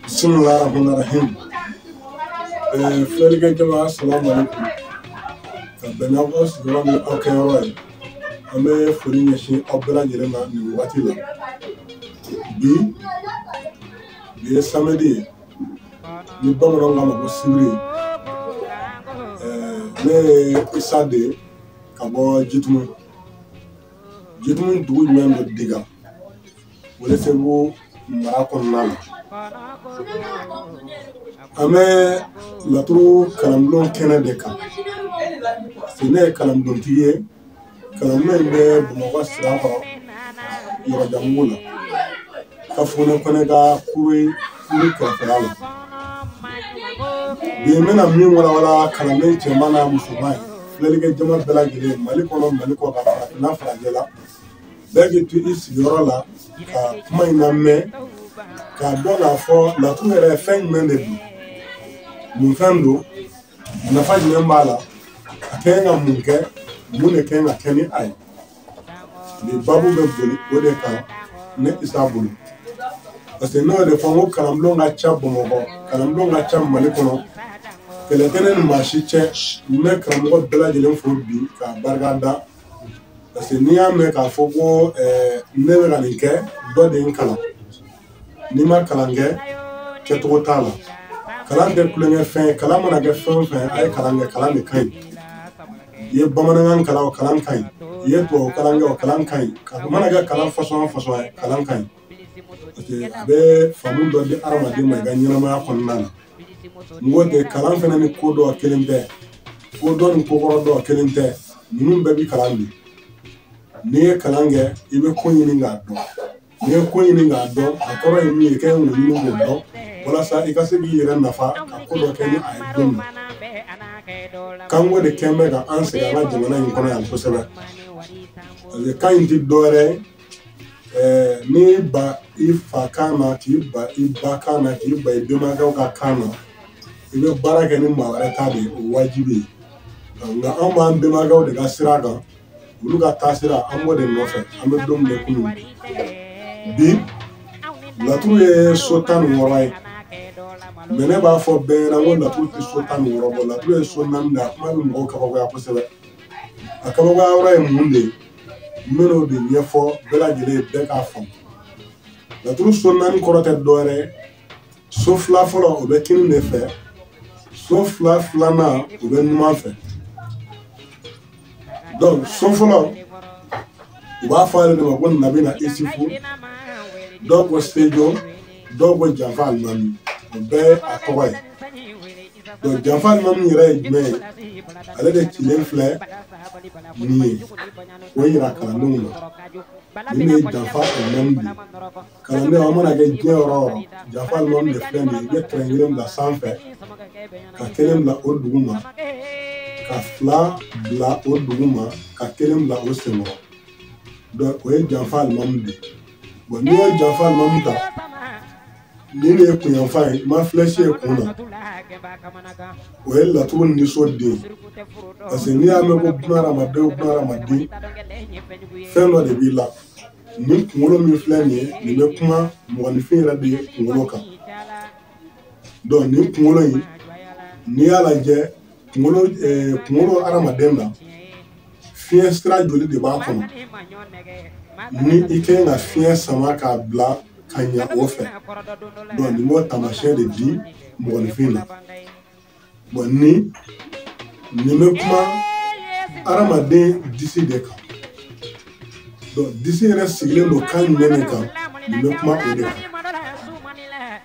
bisimilahi rahman rahim ɛɛ filɛlikɛ jama asalamu alaikum ka bɛn n'aw ka sigiyɔrɔ ni aw kɛ yɔrɔ ye an bɛ foli ɲɛsin aw bɛɛ lajɛlen ma nin wagati la bi bi ye samedi ye ni bamananw k'a ma ko sibiri ne ye isa de ye ka bɔ jitumu jitumu dugu jumɛn bɛ diga Welesebugu mara kɔnɔna na an bɛ laturu kalanbulon kɛnɛ de kan si ne ye kalanbulontigi ye kalanbulon in bɛ bamakɔ sirakɔrɔ yɔrɔjanbugu la kafunɛ kɔnɛ ka kuri kuri kɛrɛfɛla la bi n bɛna min walawala kalanden cɛman n'a musoman ye filɛlikɛ jama bɛɛ lajɛlen mali kɔnɔ mali kɔkan farafinna farajɛla bɛɛ k'i to i sigiyɔrɔ la ka kuma in na mɛn k'a dɔn k'a fɔ nakun yɛrɛ ye fɛn jumɛn de don mun fɛn don nafa jumɛn b'a la a ka ɲi ka mun kɛ mun de ka ɲi ka kɛ ni a ye nin babu bɛ boli o de kan ne isa bolo parce que ne y'o de fɔ n ko kalanbulon ka ca bamakɔ kalanbulon ka ca mali kɔnɔ kɛlɛ tɛ ne ni maa si cɛ n bɛ karamɔgɔ bɛɛ lajɛlen fo bi k'a barika da parce que n'i y'a mɛn k'a fɔ ko ne bɛ ka nin kɛ dɔ de ye n kalan n'i ma kalan kɛ kɛcogo t'a la kalan tɛ tulonkɛfɛn ye kalan mana kɛ fɛn o fɛn a ye kalan kɛ kalan de ka ɲi i ye bamanankan kalan o kalan ka ɲi i ye tubabu kalan kɛ o kalan ka ɲi a mana kɛ kalan fasɔn o fasɔn ye kalan ka ɲi parce que a bɛ faamu dɔ di hadamaden ma i ka ɲɛnamaya kɔnɔna na n ko de kalan fana ni ko dɔn kelen tɛ ko dɔn ni ko kɔrɔ dɔn kelen tɛ ninnu bɛɛ bi kalan bi n'i ye kalan kɛ i bɛ ko ɲini k'a dɔn n'i ye ko ɲini k'a dɔn a kɔrɔ ye min ye k'o ɲini k'o dɔn walasa i ka se k'i yɛrɛ nafa ka ko dɔ kɛ ni a ye donc kanko de kɛlen bɛ ka an sɛgɛn an ka jamana in kɔnɔ yan kosɛbɛ parce que kan in tɛ dɔwɛrɛ ye n'i ban i fa kan na k'i ban i ba kan na k'i ban i bɛnbakɛw ka kan na i bɛ baara kɛ ni maa wɛrɛ ta de ye o wajibi ye nka anw b'an bɛnbakɛw de ka sira kan olu ka taasira an b'o de nɔfɛ an bɛ don min ko bi laturu ye so tan ni wɔɔrɔ ye mais ne b'a fɔ bɛɛ ɲɛna ko laturu tɛ so tan ni wɔɔrɔ bɔ laturu ye so naani de a kuma bɛ mɔgɔw kabakoya kosɛbɛ a kabakoya yɔrɔ ye mun de ye n bɛn'o de ɲɛfɔ bɛɛ lajɛlen ye bɛɛ k'a faamu laturu so naani kɔrɔ tɛ dɔwɛrɛ ye so fila fɔlɔ o bɛ kinin de fɛ so fila filanan o bɛ numan fɛ donc so fɔlɔ u b'a fɔ ale de ma ko nabina isifu dɔw ko sejo dɔw ko janfa alimami o bɛɛ ye a tɔgɔ ye donc janfa limamu yɛrɛ ye jumɛn ye ale de cilen filɛ nin ye o yira kalandenw na nin de ye janfa limamu de ye kalandenw an mana kɛ diɲɛ yɔrɔ o yɔrɔ janfa limamu de filɛ nin ye i bɛ trait kelen bila sanfɛ ka kelen bila o duguma ka fila bila o duguma ka kelen bila o senkɔrɔ donc o ye janfa limamu de ye bon n'i ye janfa limamu ta nin de ye kun yanfan ye i ma flèche ye kun na o ye laturu niso de parce que n'i y'a mɛn ko bunadamaden o bunadamaden fɛn dɔ de b'i la nin kunkolo min filɛ nin ye nin bɛ kuma mɔgɔninfin yɛrɛ de kunkolo kan donc nin kunkolo in n'i y'a lajɛ kunkolo eh, kunkolo hadamaden na fiɲɛ sira joli de b'a kɔnɔ ni i kan ka fiɲɛ sama k'a bila ka ɲa o fɛ donc nin b'o taamasiyɛn de di mɔgɔninfin na bon ni nin bɛ kuma hadamaden disi de kan donc disi yɛrɛ sigilen don kan jumɛn de kan nin bɛ kuma o de kan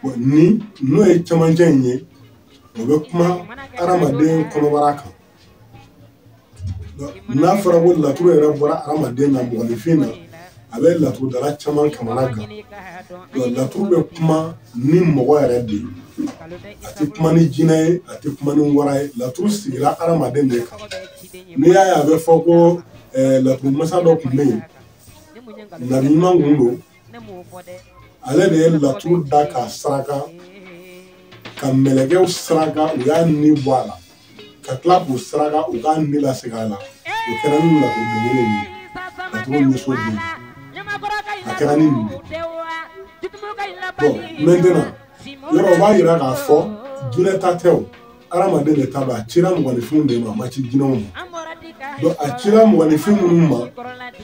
bon nin n'o ye cɛmancɛ in ye o bɛ kuma hadamaden kɔnɔbara kan n'a fɔra ko laturu yɛrɛ bɔra adamaden na mɔgɔninfin na a bɛ laturudala caman kamanagan laturu bɛ kuma ni mɔgɔ yɛrɛ de ye a tɛ kuma ni jinɛ ye a tɛ kuma ni wara ye laturu sigira adamaden de kan n'i y'a ye a bɛ fɔ ko laturu masa dɔ tun bɛ yen nabi ɲuman tun don ale de ye laturu da k'a saraka ka mɛlɛkɛw saraka u y'a ni bɔ a la ka tila k'u saraka u k'a ni lase a la o kɛra ni laturu belebele ye laturu niso bɛ yen a kɛra ni nin de bon maintenant yɔrɔ o b'a yira k'a fɔ jinɛ ta tɛ o hadamaden de ta don a cira mɔgɔninfinw de ma a ma ci jinɛw ma donc a cira mɔgɔninfin minnu ma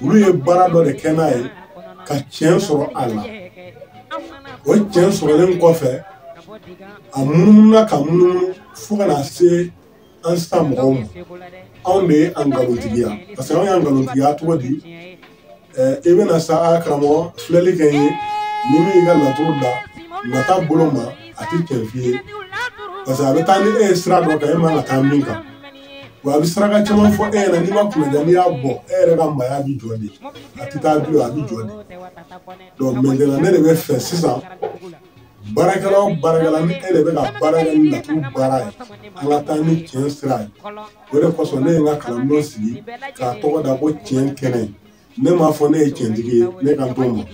olu ye baara dɔ de kɛ n'a ye ka tiɲɛ sɔrɔ a la o tiɲɛ sɔrɔlen kɔfɛ a munumununa ka munumunu fo ka na se an sisan mɔgɔw ma anw de ye a nkalontigiya parce que anw y'a nkalontigiya cogo di i bɛna sa karamɔgɔ filɛli kɛ ye ni min y'i ka laturu da nata bolo ma a tɛ tiɲɛ f'i ye parce que a bɛ taa ni e ye sira dɔ kan e man ka taa min kan wa a bɛ saraka caman fɔ e ɲɛna n'i ma kunna n'i y'a bɔ e yɛrɛ ka maaya bɛ jɔ de a tɛ taa bilen a bɛ jɔ de donc maintenant ne de bɛ fɛ sisan baarakɛla o baarakɛla ni e de bɛ ka baara kɛ ni laturu baara ye an ka taa ni tiɲɛ sira ye o de kosɔn ne ye n ka kalanbulon sigi k'a tɔgɔ da ko tiɲɛ kɛnɛ ne m'a fɔ ne ye tiɲɛtigi ye ne kan t'o ma n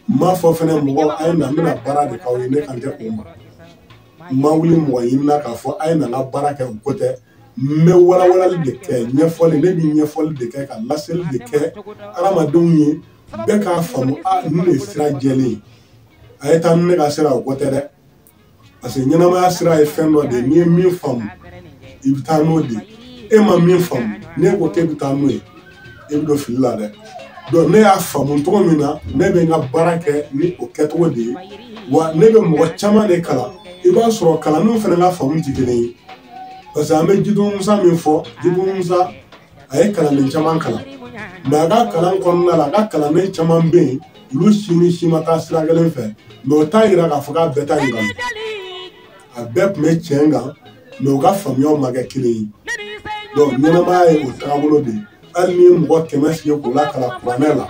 m'a fɔ fɛnɛ mɔgɔ a ye na n bɛna baara de k'aw ye ne kan tɛ o ma n ma wuli mɔgɔ ɲinina k'a fɔ a ye na n ka baara kɛ o ko tɛ n bɛ walawalali de kɛ ɲɛfɔli ne bɛ ɲɛfɔli de kɛ ka laseli de kɛ adamadenw ye bɛɛ k'a faamu a ninnu de ye sira jɛlen ye a ye taa ni ne ka sira o ko tɛ dɛ parce que ɲɛnamaya sira ye fɛn dɔ de ye n'i ye min faamu i bɛ taa n'o de e ma min faamu n'e ko k'e bɛ taa n'o ye e bɛ don fili la dɛ donc ne y'a faamu cogo min na ne bɛ n ka baara kɛ ni o kɛcogo de ye wa ne bɛ mɔgɔ caman de kalan i b'a sɔrɔ kalandenw fana ka faamu tɛ kelen ye parce que an bɛ jitumu musa min fɔ jitumu musa a ye kalanden caman kalan mɛ a ka kalan kɔnɔna la a ka kalanden caman bɛ yen olu si ni si ma taa sira kelen fɛ mɛ o t'a yira k'a fɔ k'a bɛɛ ta ye nkalon a bɛɛ tun bɛ tiɲɛ kan mɛ u ka faamuyaw ma kɛ kelen ye donc ɲɛnamaya ye o taabolo de ye hali n'i ye mɔgɔ kɛmɛ sigi k'u lakalan kuranɛ la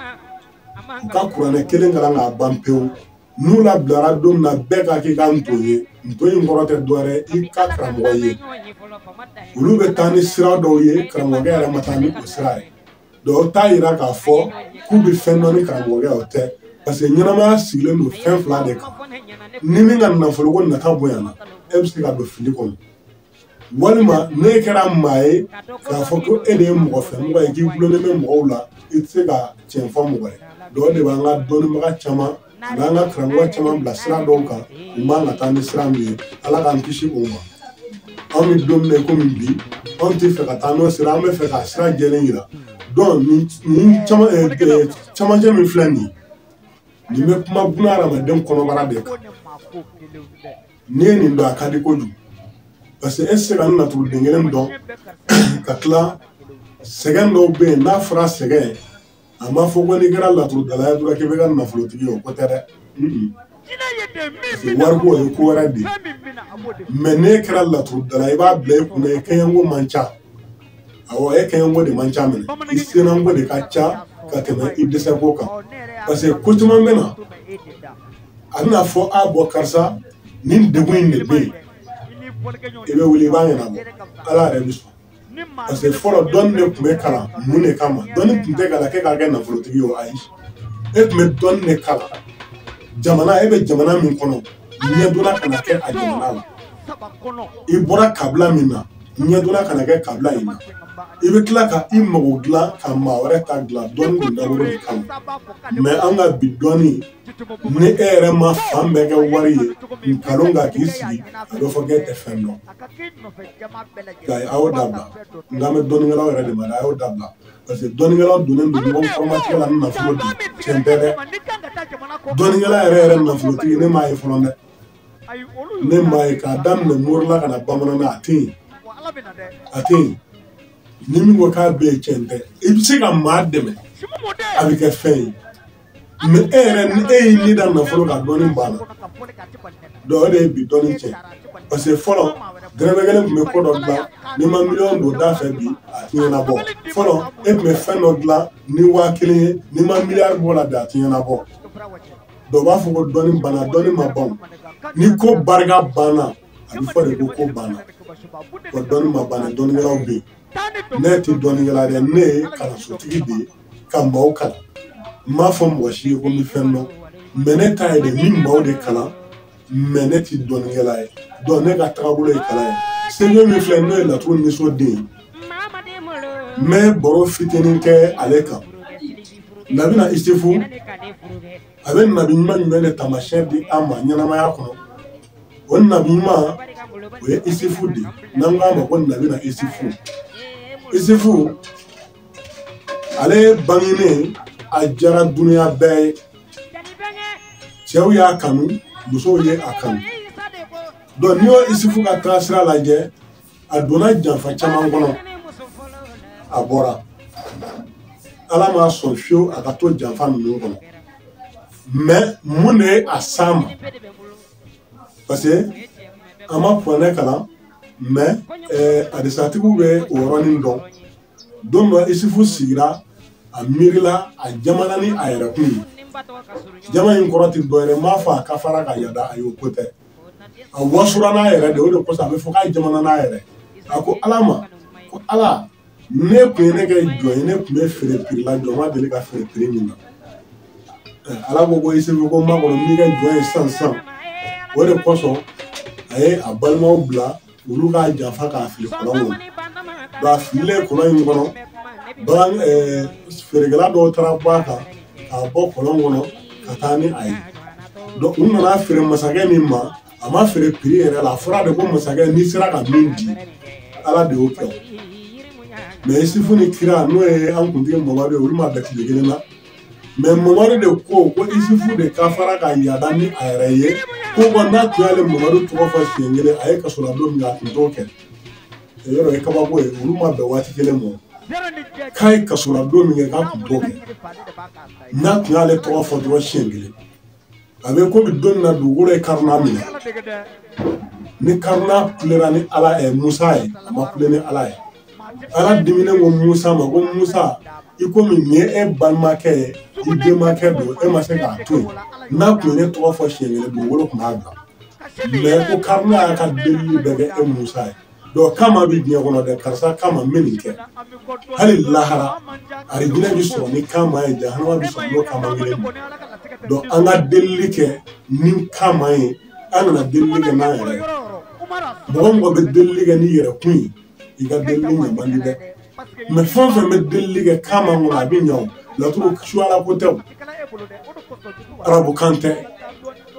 u ka kuranɛ kelen kalan k'a ban pewu n'u labilara don min na bɛɛ ka k'i ka nton ye nton in kɔrɔ tɛ dɔwɛrɛ i ka karamɔgɔ ye olu bɛ taa ni sira dɔw ye karamɔgɔkɛ yɛrɛ ma taa ni o sira ye dɔw t'a yira k'a fɔ k'u bɛ fɛn dɔn ni karamɔgɔkɛ o tɛ parce que ɲɛnamaya sigilen don fɛn fila de kan ni min ka nafoloko nata bonyana e bɛ se ka don fili kɔnɔ walima n'e kɛra maa ye k'a fɔ ko e de ye mɔgɔ fɛ mɔgɔ ye k'i dulonlen bɛ mɔgɔw la i tɛ se ka tiɲɛ fɔ mɔgɔ ye dɔw de b'an ka dɔnnibaga caman a b'an ka karamɔgɔ caman bila sira dɔw kan u man ka taa ni sira min ye ala k'an kisi o ma anw bɛ don min na komi bi anw tɛ fɛ ka taa n'o sira an bɛ fɛ k'a sira jɛlen yira dɔn nin nin caman eh, eh, camancɛ min filɛ nin ye nin bɛ kuma buna hadamaden kɔnɔbara de kan n'i ye nin dɔn a ka di kojugu parce que e se ka n laturuden kelen dɔn ka tila sɛgɛn dɔw bɛ yen n'a fɔra sɛgɛn a ma fɔ ko n'i kɛra laturudala ye dɔrɔn k'i bɛ kɛ nafolotigi ye o ko tɛ dɛ wariko ye ko wɛrɛ de ye mɛ n'e kɛra laturudala i b'a bila i kunna i kɛɲɛko man ca awɔ e kɛɲɛko de man ca minɛ i sennanko de ka ca ka tɛmɛ i dɛsɛko kan parce que ko caman bɛ na a bɛna fɔ a bɔ karisa nin degun in de bɛ yen i bɛ wuli i b'a ɲɛnabɔ ala yɛrɛ bɛ sɔn parce que fɔlɔ dɔnni de tun bɛ kalan mun de kama dɔnni tun tɛ kalan k'e ka kɛ nafolotigi ye o ayi e tun bɛ dɔnni de kalan jamana e bɛ jamana min kɔnɔ ɲɛdonna kana kɛ a jamana la i bɔra kabila min na ɲɛdonna kana kɛ kabila in na i bɛ tila ka i mago dilan ka maa wɛrɛ ta dilan dɔnni kun dabɔra o de kama mɛ an ka bi dɔnni ni e yɛrɛ ma fan bɛɛ kɛ wari ye nkalon ka k'i sigi a bɛ fɔ k'e tɛ fɛn dɔn nka a y'o dabila n kan bɛ dɔnnikɛlaw yɛrɛ de ma a y'o dabila parce que dɔnnikɛla dɔnnen don ɲɔgɔn kɔrɔmatigɛ la ni nafolo de ye tiɲɛ tɛ dɛ dɔnnikɛla yɛrɛ yɛrɛ nafolotigi ne m'a ye fɔlɔ dɛ ne m'a ye k'a daminɛ morila ka na bamanan na a tɛ yen a tɛ yen ni min ko k'a bɛ yen tiɲɛ tɛ i bɛ se ka maa dɛmɛ a bɛ kɛ fɛn ye. mɛ e yɛrɛ ni e y'i ni da nafolo kan dɔnni banna dɔw de ye bi dɔnni tiɲɛ parce que fɔlɔ dɛrɛmɛ kelen tun bɛ ko dɔ dilan n'i ma miliyɔn don da fɛ bi a ti ɲɛnabɔ fɔlɔ e tun bɛ fɛn dɔ dilan ni waa kelen ye n'i ma miliyari bɔ la bi a ti ɲɛnabɔ dɔw b'a fɔ ko dɔnni banna dɔnni ma ban n'i ko barika banna a bɛ fɔ de ko ko banna wa dɔnni ma ban dɔnnikɛlaw bɛ yen ne tɛ dɔnnikɛla dɛ ne ye kalansotigi de ye ka maaw kalan n m'a fɔ mɔgɔ si ye ko n bɛ fɛn dɔn mɛ ne ta ye de n bɛ maaw de kalan mɛ ne tɛ dɔnnikɛla ye dɔn ne ka tagabolo ye kalan ye sebe min filɛ n'o ye laturu nisɔn den ye n bɛ baro fitinin kɛ ale kan nabi na isifu a bɛ nabi ɲuman jumɛn de taamasiyɛn di an ma ɲɛnamaya kɔnɔ o nabi ɲuman o ye isifu de ye n'an k'a ma ko nabi na isifu isifu ale bangenen a diyara dunuya bɛɛ ye cɛw y'a kanu musow ye a kanu donc n'i y'o isufu ka taasira lajɛ a donna janfa caman kɔnɔ a bɔra ala ma sɔn fiyewu a ka to janfa ninnu kɔnɔ mɛ mun de ye a s'a ma parce que an ma kuranɛ kalan mɛ eh, adisatigiw bɛ o yɔrɔnin dɔn don dɔ isufu sigira a miirila a jamana ni a yɛrɛkun jama in kɔrɔ ti dɔ yɛrɛ m'a fɔ a ka fara ka yada ayi o ko tɛ a wasora n'a yɛrɛ de o de kosɔn a bɛ fɔ k'a jamana n'a yɛrɛ a ko ala ma ko ala n'e kun ye ne kɛ jɔn ye ne kun bɛ feere piri la jɔn ma deli ka feere piri min na ala ko ko isufu ko n makɔnɔ n b'i kɛ jɔn ye sisan sisan o de kosɔn a ye a balimaw bila olu k'a janfa k'a fili kɔlɔn kɔnɔ nka a fililen kɔlɔn in kɔnɔ bagan feerekɛla dɔw taara bɔ a kan k'a bɔ kɔlɔn kɔnɔ ka taa ni a ye u nan'a feere masakɛ min ma a ma feere piri yɛrɛ la a fɔra de ko masakɛ n'i sera ka min di ala de y'o kɛ mɛ isufu ni kira n'o ye an kuntigi mamadu ye olu ma bɛn tile kelen na mɛ mamadu de ko ko isufu de ka fara ka yada ni a yɛrɛ ye ko ko n'a tun y'ale mamadu tɔgɔ fɔ siɲɛ kelen a ye kaso la don min kɛ a tun t'o kɛ yɔrɔ ye kabako ye olu ma bɛn waati kelen ma k'a ye kaso la don min kɛ k'a tun t'o kɛ n'a tun y'ale tɔgɔ fɔ dɔrɔn siɲɛ kelen a bɛ komi don min na dugukolo ye karuna minɛ ni karuna kulera ni ala ye musa ye a ma kule ni ala ye ala diminen ko musa ma ko musa i komi nin ye e balimakɛ ye i denmakɛ don e ma se k'a to yen n'a tun ye ne tɔgɔ fɔ siɲɛ kelen dugukolo tun b'a bila mɛ ko karuna y'a ka delili bɛɛ kɛ e musa ye dɔw kama bɛ diɲɛ kɔnɔ dɛ karisa kama n bɛ nin kɛ hali lahara arijinɛ bɛ sɔrɔ ni kama ye jahanama bɛ sɔrɔ n'o kama kelen ma dɔn an ka delili kɛ ni kama ye an kana delili kɛ n'an yɛrɛ ye mɔgɔ mɔgɔ bɛ delili kɛ n'i yɛrɛ kun ye i ka delili ɲɛ man di dɛ mɛ fɛn fɛn bɛ delili kɛ kama kɔnɔ a bɛ ɲɛ o laturu suyala ko tɛ o arabukan tɛ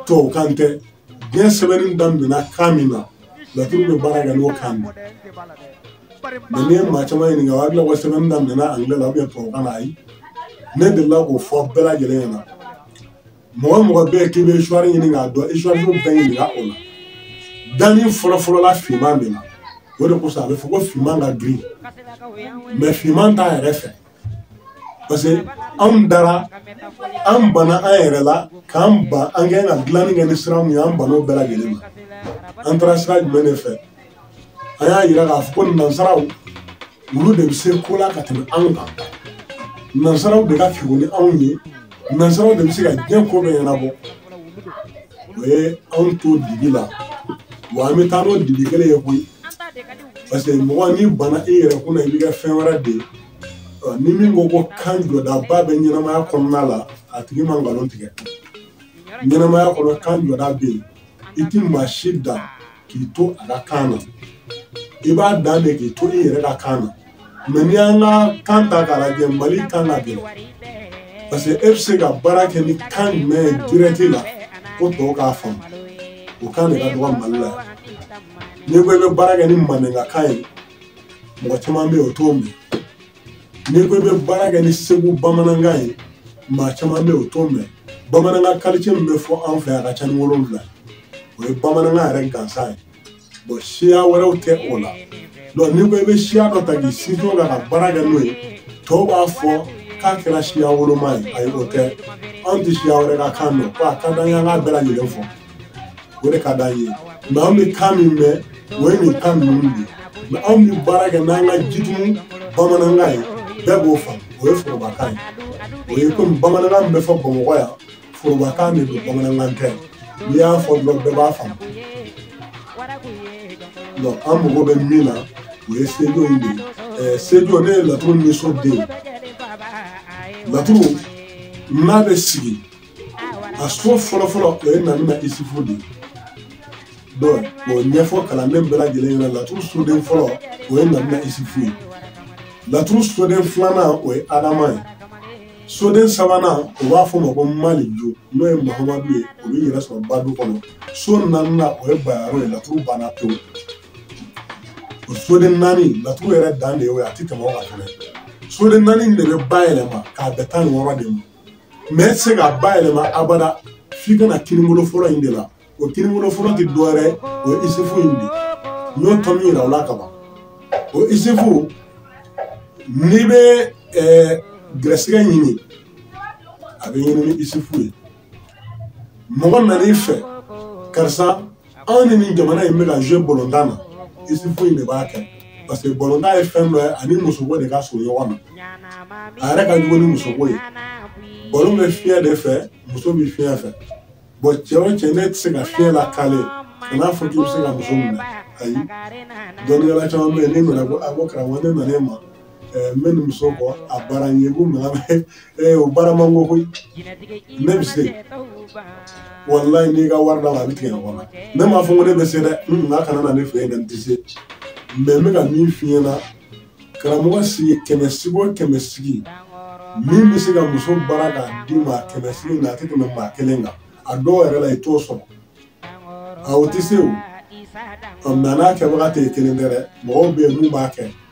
tubabukan tɛ diɲɛ sɛbɛnni daminɛna kan min na laturu bɛ baara kɛ n'o kan na mɛ n'i ye maa caman ɲininka o hakili la ko sɛbɛnni daminɛna angilɛ la tubabukan na ayi ne delila k'o fɔ bɛɛ lajɛlen ɲɛna mɔgɔ mɔgɔ bɛ yen k'i bɛ histoire ɲini k'a dɔn histoire bɛɛ ɲininka o la danni fɔlɔfɔlɔ la finman de la o de kosɔn a bɛ fɔ ko finman ka girin mɛ finman t'a yɛrɛ fɛ parce que anw dara an bana an yɛrɛ la k'an ban an kɛ ka dilanni kɛ ni sira min ye an bana o bɛɛ lajɛlen ma an taara sira jumɛn de fɛ an y'a yira k'a fɔ ko nansaraw olu de bɛ se ko la ka tɛmɛ anw kan nansaraw de ka kegun ni anw ye nansaraw de bɛ se ka diɲɛ ko bɛɛ ɲɛnabɔ o ye anw to dibi la wa an bɛ taa n'o dibi kelen ye koyi parce que mɔgɔ n'i bana i yɛrɛ kunna i b'i kɛ fɛn wɛrɛ de ye ni min ko ko kan jɔdaba bɛ ɲɛnamaya kɔnɔna la a tigi ma nkalon tigɛ ɲɛnamaya kɔnɔ kan jɔda bɛ yen i tɛ maa si dan k'i to a ka kan na i b'a dan de k'i to i yɛrɛ ka kan na mɛ n'i y'an ka kan ta k'a lajɛ mali kan ka gɛlɛn parce que e bɛ se ka baara kɛ ni kan jumɛn ye dirɛti la ko tɔw k'a faamu o kan de ka dɔgɔ mali la yan n'i ko i bɛ baara kɛ ni maninkakan ye mɔgɔ caman bɛ yen o t'o mɛn n'i ko i bɛ baara kɛ ni segu bamanankan ye maa caman bɛ yen o t'o mɛn bamanankan kalite min bɛ fɔ an fɛ a ka ca ni wolonwula o ye bamanankan yɛrɛ gansan ye bon siya wɛrɛw tɛ o la donc n'i ko i bɛ siya dɔ ta k'i sinsin kan ka baara kɛ n'o ye tɔw b'a fɔ k'a kɛra siya woloma ye ayi o tɛ anw tɛ siya wɛrɛ ka kan mɛn ko a ka d'an ye an k'a bɛɛ lajɛlen fɔ o de ka d'an ye mais anw bɛ kan min mɛn o ye nin kan ninnu de ye mais anw bɛ baara kɛ n'an ka jitumu bamanankan ye bɛɛ b'o faamu o ye forobakan ye o ye komi bamanankan min bɛ fɔ bamakɔ yan forobakan de don bamanankan tɛ n'i y'a fɔ dɔrɔn bɛɛ b'a faamu donc an mago bɛ min na o ye sujet in de ye sujet n'o ye laturu ni soden laturu n'a bɛ sigi a so fɔlɔfɔlɔ o ye nabina isifu de ye donc o ɲɛfɔ kalanden bɛɛ lajɛlen ɲɛna laturu soden fɔlɔ o ye nabina isifu ye laturu soden filanan o ye adama ye soden sabanan o b'a fɔ ma ko malijo n'o ye mahamadu ye o bɛ yɛrɛ sɔrɔ badu kɔnɔ so naaninan o ye bayaro ye laturu banna pewu o soden naani laturu yɛrɛ dan de ye o ye a tɛ tɛmɛ o kan fɛnɛ soden naani de bɛ ba yɛlɛma k'a bɛn tan ni wɔɔrɔ de ma mais e tɛ se ka ba yɛlɛma abada f'i ka na kinibolo fɔlɔ in de la o kinibolo fɔlɔ tɛ dɔ wɛrɛ o ye isifu in de n y'o tomi yira o la ka ban o isifu n'i bɛ ɛɛ gɛrɛsɛgɛ ɲini a bɛ ɲini ni isifu ye mɔgɔ nan'i fɛ karisa anw ni nin jamana in bɛ ka jouer bɔlɔntan na isifu in de b'a kɛ parce que bɔlɔntan ye fɛn dɔ ye ani musoko de ka surun ɲɔgɔn na a yɛrɛ ka jugu ni musoko ye bɔlɔn bɛ fiɲɛ de fɛ muso bɛ fiɲɛ fɛ bon cɛ o cɛ n'e tɛ se ka fiɲɛ lakale kan'a fɔ k'i bɛ se ka muso minɛ ayi dɔnnikɛla caman bɛ yen n'e nana ko a ko karamɔgɔ ne nana e ma n bɛ nin muso kɔ a baara n ye ko mais o baara man go koyi ne bɛ se walayi n'i ka wari d'a ma a bɛ tigɛ ɲɔgɔn na ne m'a fɔ ko ne bɛ se dɛ n nka kana na ne fɛ yen dɛ n tɛ se mais n bɛ ka min f'i ɲɛna karamɔgɔ sigi kɛmɛ sigi o kɛmɛ sigi min bɛ se ka muso baara k'a d'i ma kɛmɛ sigi na a tɛ tɛmɛ maa kelen kan a dɔw yɛrɛ la i t'o sɔrɔ a o tɛ se o nka n'a kɛbaga tɛ kelen tɛ dɛ mɔgɔw bɛ yen min b'a kɛ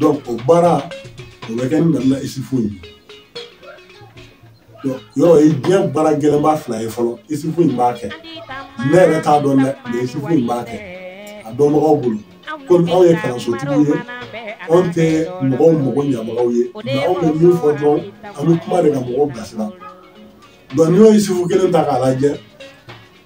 donc o baara o bɛ kɛ ni nabina isifu ye donc yɔrɔ o ye diɲɛ baara gɛlɛnba fila ye fɔlɔ isifu in b'a kɛ ne yɛrɛ t'a dɔn dɛ mais isifu in b'a kɛ a dɔnbagaw bolo komi anw ye kalansotigiw ye anw tɛ mɔgɔw mago ɲɛbagaw ye nka anw bɛ min fɔ dɔrɔn an bɛ kuma de ka mɔgɔw bilasira donc n'i y'o isifu kelen ta k'a lajɛ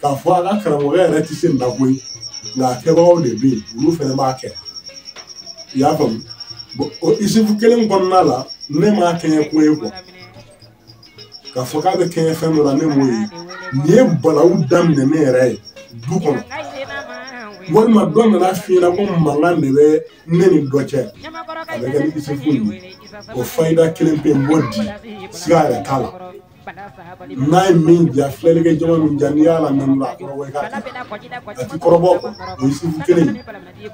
k'a fɔ an ka karamɔgɔ yɛrɛ tɛ se nin na koyi nka a kɛbagaw de bɛ yen olu fana b'a kɛ i y'a faamu o isifu kelen kɔnɔna la ne m'a kɛɲɛ ko ye quoi k'a fɔ k'a bɛ kɛɲɛ fɛn dɔ la ne m'o ye nin ye balawu daminɛ ne yɛrɛ ye du kɔnɔ walima dɔ nan'a f'i ɲɛna ko mankan de bɛ ne ni dɔ cɛ a bɛ kɛ ni isifu ye o fayida kelen pe n b'o di siga yɛrɛ t'a la n'a ye min ja filɛlikɛ jama min ja n'i y'a la nanu la a kɔrɔbɔ i k'a kɛ a ti kɔrɔbɔ o ye isifu kelen ye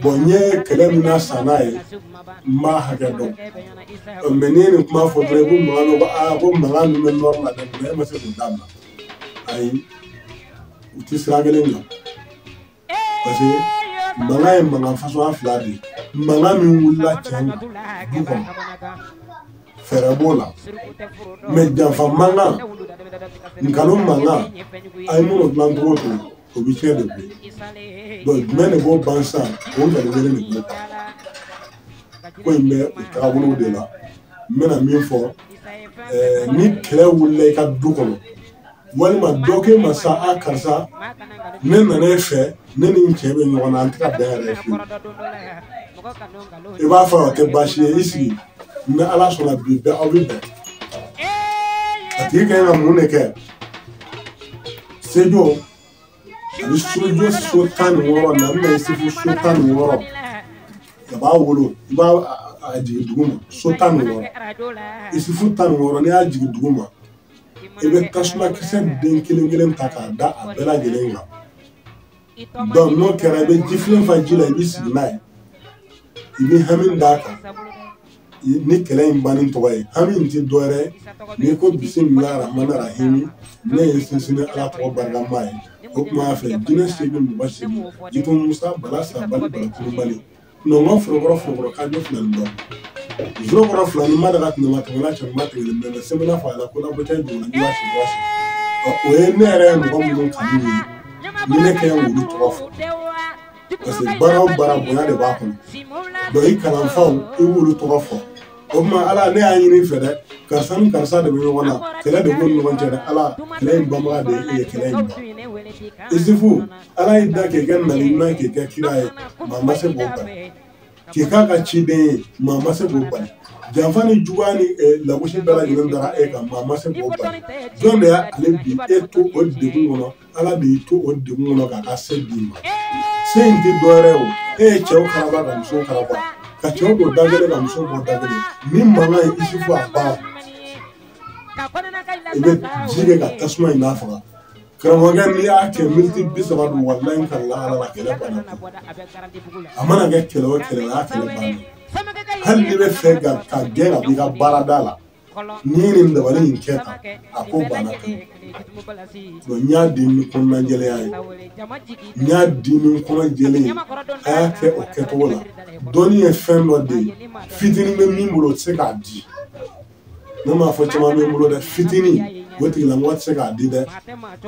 bon n ye kɛlɛ min na san n'a ye n b'a hakɛ dɔn mais n'i ye nin kuma fɔ dɔrɔn i ko mankan dɔ ko aa ko mankan min bɛ nord la dɛ mais e ma se k'o dabila ayi u ti sira kelen kan parce que mankan ye mankan fasuguya fila de ye mankan min wulila cɛn du kɔnɔ fɛɛrɛ b'o la mais janfa mankan nkalon mankan a ye minnu dilan cogo to o bɛ tiɲɛ de bɔ donc jumɛn de b'o ban sisan o nkalon kelen de b'o ban ko in bɛ o taabolow de la n bɛna min fɔ ɛɛ ni kɛlɛ wulila i ka du kɔnɔ walima dɔ k'e ma sa a karisa ne nana e fɛ ne ni n cɛ bɛ ɲɔgɔn na an tɛ ka bɛn yɛrɛ fiyewu i b'a fɔ o tɛ baasi ye i sigi ni ala sɔnna bi bɛɛ aw bɛ bɛn a tigi ka ɲi ka mun de kɛ sejo ni sojo so tan ni wɔɔrɔ na n bɛ se fo so tan ni wɔɔrɔ a b'a wolo i b'a jigin dugu ma so tan ni wɔɔrɔ isufu tan ni wɔɔrɔ n'i y'a jigin dugu ma i bɛ tasumakisɛ den kelen kelen ta k'a da a bɛɛ lajɛlen kan donc n'o kɛra i bɛ jifilen fa ji la i bɛ sigi n'a ye i bɛ hami d'a kan ni kɛlɛ in banni tɔgɔ ye hami in tɛ dɔwɛrɛ ye n'i ko bisimila rahman rahimi ne ye sinsin ni ala tɔgɔ barikama ye o tuma fɛ jinɛ seegin mɔgɔ seegin jitumu musa bala sabali bala kulubali mɛ o ma forokɔrɔ forokɔrɔ ka ne fila nin dɔn zoro kɔrɔ fila ni ma daga tun ma tɛmɛ n'a cɛma tɛmɛ mɛ mɛ sɛbɛnna fa la ko la bɛ taa duguma ni waa si waa si o ye ne yɛrɛ ye mɔgɔ minnu kanu ye ni ne kɛ olu tɔgɔ fɔ parce que baara o baara bonya de b'a kɔnɔ donc i kalanfaw i b'olu tɔgɔ fɔ o tuma ala ne y'a ɲini i fɛ dɛ karisa ni karisa de bɛ ɲɔgɔn na kɛlɛ de b'u ni ɲɔgɔn cɛ dɛ ala kɛlɛ in banbaga de ye e ye kɛlɛ in ban isifu ala y'e da k'i kɛ nabi ɲuman k'i kɛ kira ye maa ma se k'o bali k'i k'a ka ciden ye maa ma se k'o bali janfa ni juguya ni eh, lagosi bɛɛ lajɛlen dara e kan maa ma se k'o bali jɔn de y'ale bi e to o degun kɔnɔ ala de y'i to o degun kɔnɔ k'a ka se d'i ma se in tɛ dɔwɛrɛ o e ye cɛw karaba ka musow karaba ka cɛw bɔ da kelen ka musow bɔ da kelen ni mankan ye isufu a ban i bɛ ji kɛ ka tasuma in nafaga karamɔgɔkɛ n'i y'a kɛ miniti bi saba don walayi n kalila ala la kɛlɛ banna a mana kɛ kɛlɛ o kɛlɛ y'a kɛlɛ banna hali n'u b'a fɛ k'i gɛn ka b'i ka baarada la n'i ye nin dabali in kɛ tan a ko banna kan bon n y'a di ni kɔnɔna jɛlenya ye n y'a di ni kɔnɔ jɛlen ye a y'a kɛ o kɛcogo la dɔnni ye fɛn dɔ de ye fitinin bɛ min bolo o tɛ se k'a di ne m'a fɔ caman bɛ n bolo dɛ fitinin o tigilamɔgɔ tɛ se k'a di dɛ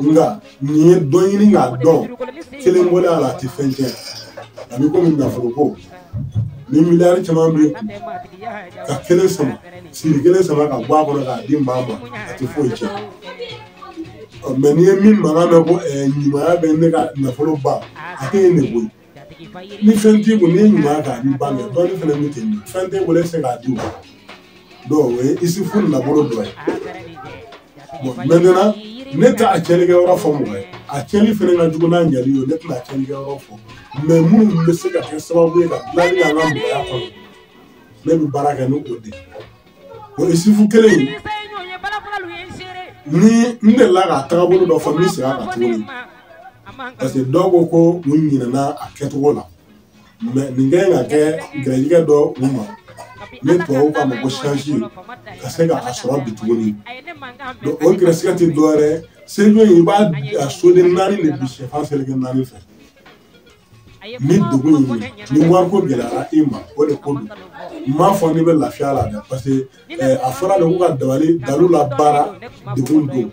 nka n'i ye dɔ ɲini k'a dɔn kelen bɔlen a la a tɛ fɛn tiɲɛ a bɛ komi nafolo ko ni miliyari caman b'i kun ka kelen sama siri kelen sama ka bɔ a kɔnɔ k'a di maa ma a tɛ foyi tiɲɛ mɛ n'i ye min mankan mɛn ko ɲumanya b'e ka nafolo ban a tɛ yen ne bolo ni fɛn t'i kun n'i ɲuman k'a di maa ma dɔnni fana bɛ ten fɛn t'i bolo e se k'a di ma dɔw o ye isifu nafolo dɔ ye bɔn mɛtɛnan ne tɛ a cɛnni kɛ yɔrɔ fɔ mɔgɔ ye a cɛnni fana ka jugu n'a ɲɛli ye ne tɛna a cɛnni kɛ yɔrɔ fɔ mɛ minnu bɛ se ka kɛ sababu ye ka dilanni kɛ an ka mɔgɔya kɔnɔ ne bɛ baara kɛ n'o de ye o ye isifu kelen ye ni n delila k'a tagabolo dɔ fɔ n bɛ segin a kan tuguni parce que dɔw ko ko u ɲinɛna a kɛcogo la mɛ nin kɛ ka kɛ gɛrɛjigɛ dɔ u ma ne tubabu k'a ma ko chance ka se ka a sɔrɔ bi tuguni donc o gɛrɛsigɛ tɛ dɔwɛrɛ ye sejo in i b'a a soden naani de bi sɛfan seleke naani fɛ ni dugu in ni wariko gɛlɛyara i ma o de ko don n m'a fɔ n'i bɛ lafiya la dɛ parce que eh, a fɔra de ko ka dabali dalu la baara dugu don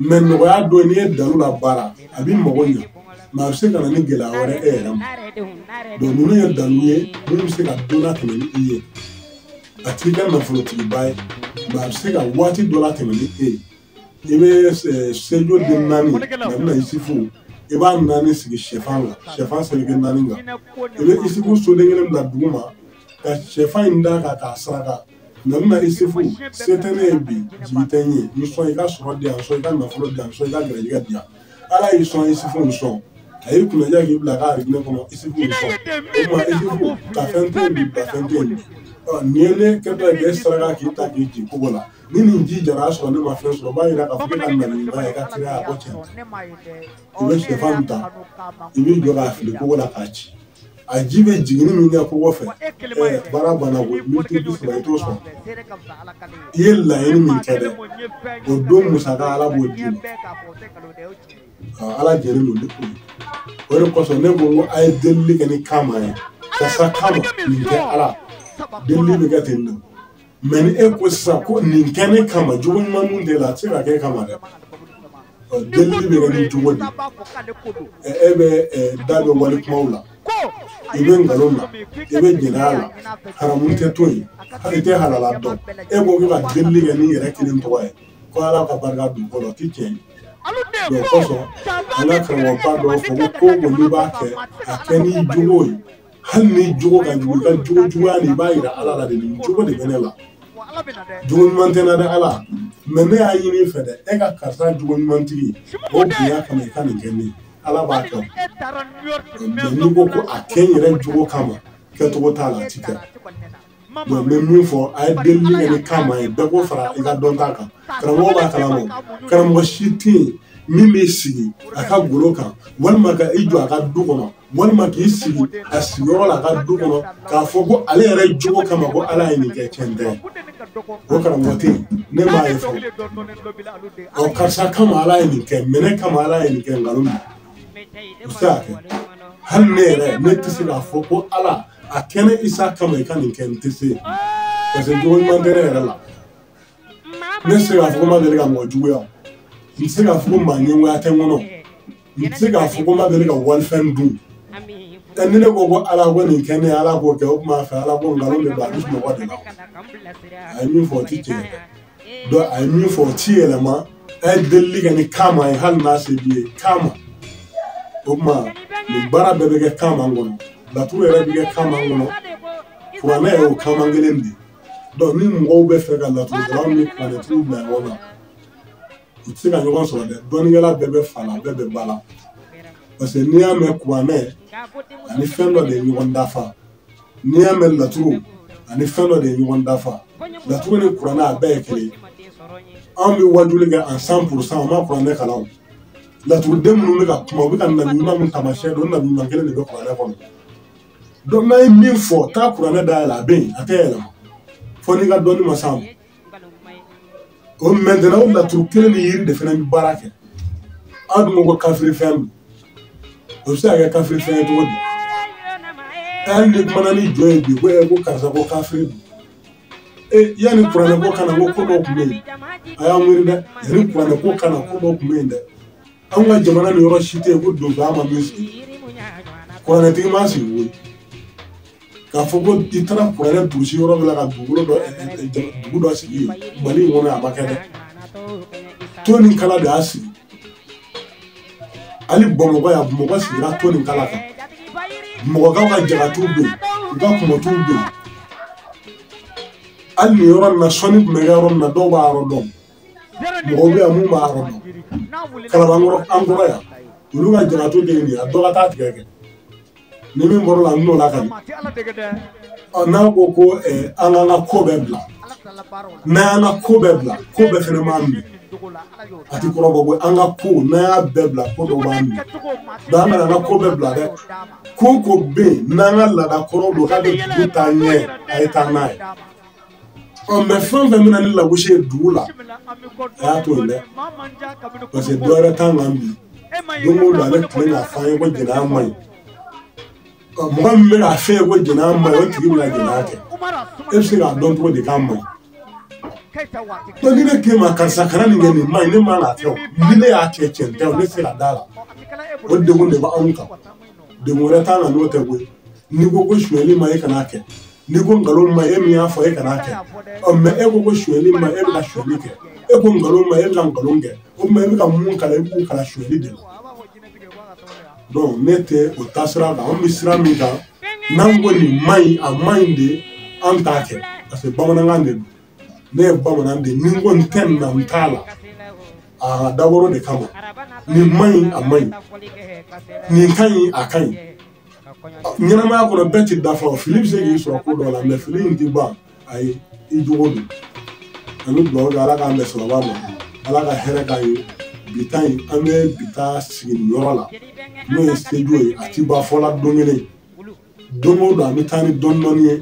mɛ nɔgɔya don n'i ye dalu la baara a b'i mago ɲa mɛ a bɛ se ka na ni gɛlɛya wɛrɛ e yɛrɛ ma donc ninnu ye dalu ye minnu bɛ se ka don latɛmɛ ni i ye a t'i kɛ nafolotigiba ye mɛ a bɛ se ka waati dɔ latɛmɛ ni e ye i bɛ sejo den naani mɛ bɛna isifu i b'a naani sigi sɛfan la sɛfan seleke naani kan i bɛ isifu soden kelen bila dugu ma ka sɛfan in da a kan k'a saraka mɛ bɛna isifu se tɛ ne ye bi jigi tɛ n ye n sɔn i ka sɔrɔ di yan sɔn i ka nafolo di yan sɔn i ka gɛrɛjɛgɛ di yan ala y'i sɔn isifu n sɔn a ye kunnaja k'i bila k'a ne kɔnɔ isifu n sɔn o ma isifu ka fɛn to yen bi ka fɛn to yen bi nin ye ne kɛtɔ ye k'e saraka k'i ta k'i jigin kogo la ni nin ji jara a sɔrɔ ne ma fɛn sɔrɔ o b'a yira k'a fɔ k'e ka naniba ye i ka teliya a ko cɛn i bɛ sɛfan ta i b'i jɔ k'a fili kogo la k'a ci a ji bɛ jiginni min kɛ kogo fɛ ɛɛ baara banna ko miniti bi saba i t'o sɔrɔ i ye laɲini min kɛ dɛ o don musaka ala b'o d'i ma ala jɛlen don ni o ye o de kosɔn ne ko n ko a ye delili kɛ nin kanma ye karisa kanma nin kɛ ala delili bɛ kɛ ten nɔ. mɛ ni e ko sisan ko nin kɛ ne kama jogo ɲuman mun b'e la a tɛ se ka kɛ kama dɛ delili bɛ kɛ ni jogo de e bɛ da bɛ wale kumaw la i bɛ nkalon na i bɛ jɛnɛya la haramu tɛ to yen i tɛ halala dɔn e ko k'i ka delili kɛ n'i yɛrɛ kelen tɔgɔ ye ko ala ka barika don kɔrɔ o tɛ tiɲɛ ye o kosɔn an ka karamɔgɔba dɔw fɔ ko ko n'i b'a kɛ a kɛ n'i jogo ye hali n'i jogo ka jugu ka jogo juguya de i b'a yira ala la de nin jogo de bɛ ne la jogo ɲuman tɛ n na dɛ ala mɛ ne y'a ɲini i fɛ dɛ e ka karisa jogo ɲumantigi o bonya kama i ka nin kɛ n ye ala b'a kɛ mɛ n'i ko ko a kɛ n yɛrɛ jogo kama kɛcogo t'a la a ti kɛ donc n bɛ min fɔ a ye delili kɛ ni kama ye bɛɛ k'o fara i ka dɔnta kan karamɔgɔ b'a kalama karamɔgɔ si tɛ yen min b'i sigi a ka golo kan walima k'i jɔ a ka du kɔnɔ walima k'i sigi a sigiyɔrɔ la a ka du kɔnɔ k'a fɔ ko ale yɛrɛ jogo kama ko ala ye nin kɛ tiɲɛ tɛ o karamɔgɔ tɛ yen ne m'a ye fɔlɔ ɔ karisa kama ala ye nin kɛ mɛ ne kama ala ye nin kɛ nkalon don Musa hali ne yɛrɛ ne tɛ se k'a fɔ ko ala a kɛ ne isa kama i ka nin kɛ n tɛ se parce que jogo ɲuman tɛ ne yɛrɛ la ne tɛ se k'a fɔ ko n ma deli ka mɔgɔ juguya n tɛ se k'a fɔ ko maa ɲɛngoya tɛ n kɔnɔ n tɛ se k'a fɔ ko n ma deli ka walifɛn dun ɛ ni ne ko ko ala ko nin kɛ n ye ala k'o kɛ o tuma fɛ ala ko nkalon de don a bɛ sunɔgɔ de la a ye min fɔ o tɛ tiɲɛ ye dɛ donc a ye min fɔ o ti yɛlɛma a ye delili kɛ ni kama ye hali n'a se b'i ye kama o tuma nin baara bɛɛ bɛ kɛ kama kɔnɔ laturu yɛrɛ bɛ kɛ kama kɔnɔ kuranɛ yɛrɛ o kama kelen de ye donc ni mɔgɔw bɛ fɛ ka laturudala ni kuranɛtigiw bila ɲɔgɔn na u tɛ se ka ɲɔgɔn sɔrɔ dɛ dɔnnikɛla bɛɛ bɛ fa la bɛɛ bɛ ba la parce que n'i y'a mɛn kuranɛ ani fɛn dɔ de ye ɲɔgɔn dafa n'i y'a mɛn laturu ani fɛn dɔ de ye ɲɔgɔn dafa laturu ni kuranɛ a bɛɛ ye kelen anw bɛ wajuli kɛ an cent pour cent an ma kuranɛ kalan laturuden minnu bɛ ka kuma u bɛ ka nabi ɲuman min taamasiyɛn don nabi ɲuman kelen de bɛ kuranɛ kɔnɔ donc n'a ye min fɔ taa kuranɛ dayɛlɛ a bɛ yen a tɛ yɛlɛma fo n'i ka dɔnni ma s'a ma o maintenant o laturu kelen nin yɛrɛ de fana bɛ baara kɛ aw dun ko ko kafiri fɛn don o bɛ se ka kɛ kafiri fɛn ye cogo di hali ni kumana ni jɔn ye bi ko ɛ ko karisa ko kafiri don e yanni kuranɛ ko ka na ko ko dɔ tun bɛ yen a y'aw miiri dɛ yanni kuranɛ ko ka na ko dɔ tun bɛ yen dɛ anw ka jamana nin yɔrɔ si tɛ yen ko dɔnbaa ma min sigi kuranɛtigi ma sigi koyi k'a fɔ ko i taara kuranɛ durusi yɔrɔ min na ka dugukolo dɔ dugu dɔ sigi yen mali in kɔnɔ a ma kɛ dɛ ton ni kala de y'a sigi hali bamakɔ yan bamakɔ sigira ton ni kala kan bamakɔkaw ka jalatuw bɛ yen u ka kɔmɔtuw bɛ yen hali nin yɔrɔ nin na sɔnni tun bɛ kɛ yɔrɔ min na dɔw b'a yɔrɔ dɔn mɔgɔw bɛ yan min b'a yɔrɔ dɔn kalabankɔrɔ an kɔrɔ yan olu ka jalatu de ye nin ye a dɔ ka taa tigɛ kɛ ni min bɔr'o la n n'o la ka ɲɛ n'a ko ko eh, an k'an ka ko bɛɛ bila n'an y'an ka ko bɛɛ bila ko bɛɛ fɛnɛ b'an minɛ a ti kɔrɔbɔ ko an ka ko n'an y'a bɛɛ bila ko dɔ b'an minɛ donc an kana an ka ko bɛɛ bila dɛ ko ko bɛ yen n'an ka laada kɔrɔ don k'a bɛ dugu taa ɲɛ a ye taa n'a ye ɔ mais fɛn o fɛn bɛ na ni lagosi ye dugu la a y'a to yen dɛ parce que dɔ wɛrɛ t'an kan bi don o don ale tile k'a fɔ an ye ko jɛnɛya man ɲi ɔ mɔgɔ min bɛ k'a f'e ye ko jɛnɛya man ɲi o tigi bɛna jɛnɛya kɛ e bɛ se k'a dɔn cogo di k'a man ɲi. donc ni ne k'e ma karisa kana nin kɛ nin man ɲi ne man k'a kɛ o ni ne y'a kɛ cɛn tɛ o ne tɛ se ka d'a la o degun de b'anw kan degun wɛrɛ t'an kan n'o tɛ koyi n'i ko ko sonyali man ɲi e kana a kɛ n'i ko nkalon man ɲi e min y'a fɔ e kana kɛ ɔ mais e ko ko sonyali man ɲi e bɛ ka sonyali kɛ e ko nkalon man ɲi e bɛ ka nkalon kɛ o tuma e bɛ ka mun kalan e b'u kalan sonyali de la donc ne tɛ o taasira kan anw bɛ sira min kan n'an ko nin man ɲi a man ɲi de an t'a kɛ parce que bamanankan de don ne ye bamanan de ye ni n ko n tɛ nin na n t'a la a dabɔra o de kama nin man ɲi a man ɲi nin ka ɲi a ka ɲi ɲɛnamaya kɔnɔ bɛɛ ti dafa o fili bɛ se k'i sɔrɔ ko dɔ la mais fili in ti ban ayi i jogo don an bɛ dugawu kɛ ala k'an bɛn sababa ma ala ka hɛrɛ k'an ye bi ta in an bɛ bi ta sigi nin yɔrɔ la n'o ye sejo ye a ti ban fɔla don kelen don o don an bɛ taa ni dɔɔni dɔɔni ye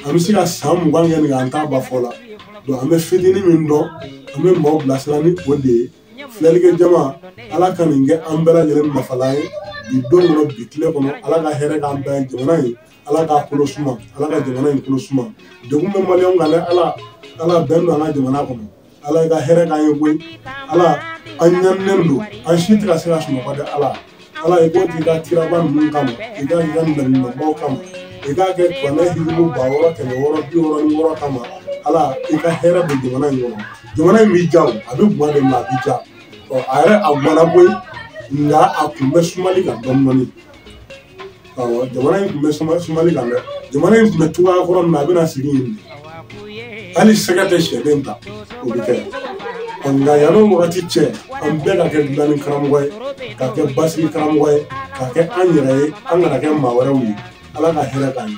an bɛ se ka san mugan kɛ nin kan an t'a ban fɔla donc an bɛ fitini min dɔn an bɛ maaw bilasira ni o de ye filɛlikɛ jama ala ka nin kɛ an bɛɛ lajɛlen nafala ye bi don kɔnɔ bi tile kɔnɔ ala ka hɛrɛ k'an bɛɛ jamana ye ala k'a kolo suma ala ka jamana in kolo suma degun bɛ maliyɛnw kan dɛ ala ala bɛn don an ka jamana kɔnɔ ala i ka hɛrɛ k'an ye koyi ala an ɲaninen don an si tɛ ka se ka sunɔgɔ dɛ ala ala i k'a k'i ka kiraba ninnu kama i ka i ka mɛlɛkɛbaw kama i k'a kɛ kuranɛ hijibu ba wɔɔrɔ kɛmɛ wɔɔrɔ bi wɔɔrɔ ni wɔɔrɔ kama ala i ka hɛrɛ bɛ jamana in kɔnɔ jamana in bɛ ja o a bɛ gwan de ma a bɛ ja ɔ a yɛrɛ a gwanna koyi nka a tun bɛ sumali kan dɔɔnin dɔɔnin jamana in tun bɛ suma sumali kan dɛ jamana in tun bɛ cogoya kɔrɔ min na a bɛna segin yen hali sɛgɛ tɛ sɛden ta o bɛ kɛ nka yanni o wagati cɛ an bɛɛ ka kɛ dilanni karamɔgɔ ye ka kɛ basigi karamɔgɔ ye ka kɛ an yɛrɛ ye an kana kɛ maa wɛrɛw ye ala ka hɛrɛ k'an ye